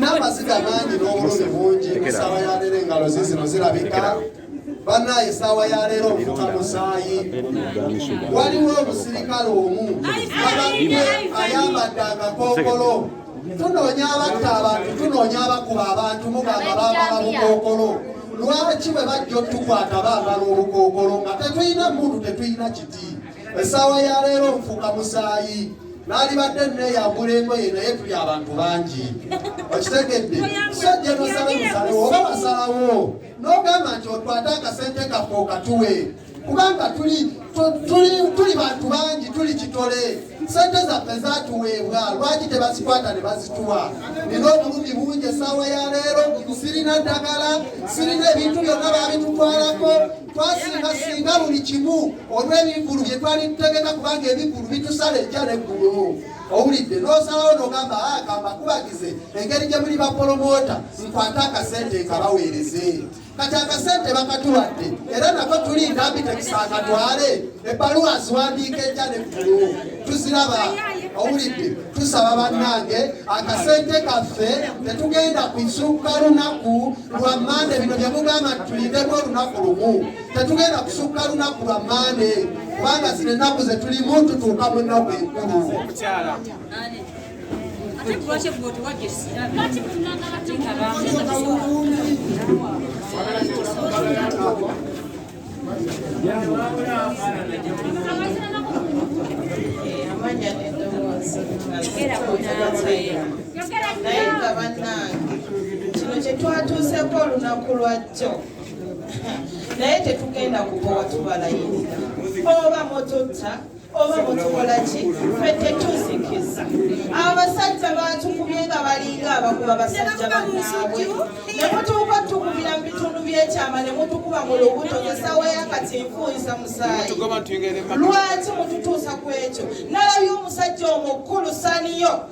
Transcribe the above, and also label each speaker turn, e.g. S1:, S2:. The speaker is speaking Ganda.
S1: n'amaziga mangi n'obulumi bungi ensaba ya leero engalo zizino zirabika banaye esaawa ya leero ofuka musaayi waliwo omusirikale omu abadde ayambadde akakookolo tunoonya abatta abantu tunoonya abakuba abantu mugamba bambala bukookolo lwaki bwe bajja otukwata bambala obukookolo nga tetulina muntu tetulina kiti esaawa ya leero nfuka musaayi nalibadde neyambula engoye naye tuli abantu bangi okitegedde sajja nosala musalewo oba basalawo n'ogamba nti otwate akasente kaffe okatuwe kubanga tuli tuli bantu bangi tuli kitole sente zaffe zatuweebwa lwaki tebazikwata ne bazituwa nina obulumi bungi esaawa ya leero sirina ddagala sirina ebintu byonna babitutwalako twasinga singa buli kimu olw'ebivulu bye twali tutegeka kubanga ebivulu bitusala ejja n'eggulu owulidde n'osalawo n'ogamba agamba ah, kubagize engeri gye muli bapolomoota nkwate akasente nkabaweereze kati akasente bakatuwadde era nako tuli ndambi tekisaakatwale ebbaluwa ziwandiika ejja ne ggulu tuziraba owulidde tusaba bannange akasente kaffe tetugenda kusuuka lunaku lwa mande bino bye mugamba nti tulindemu olunaku lumu Tetugenda kusukka lunaku lwa Mmande kubanga zino ennaku ze tulimu tutuuka mu nnaku enkulu.
S2: naye nga bannange kino kyetwatuuseko olunaku lwajjo naye tetugenda kukowa tubalayirira oba mututta oba mutukola ki fe tetuzikiza abasajja batukubye nga balinga abakuba basajja banaabwe nemutuuka tukubira mu bitundu byekyama nemutukuba mu lubuto nesawa yakati nfuuyisa musaayi lwaki mututuusa ku ekyo nalabye omusajja omukulu saniyo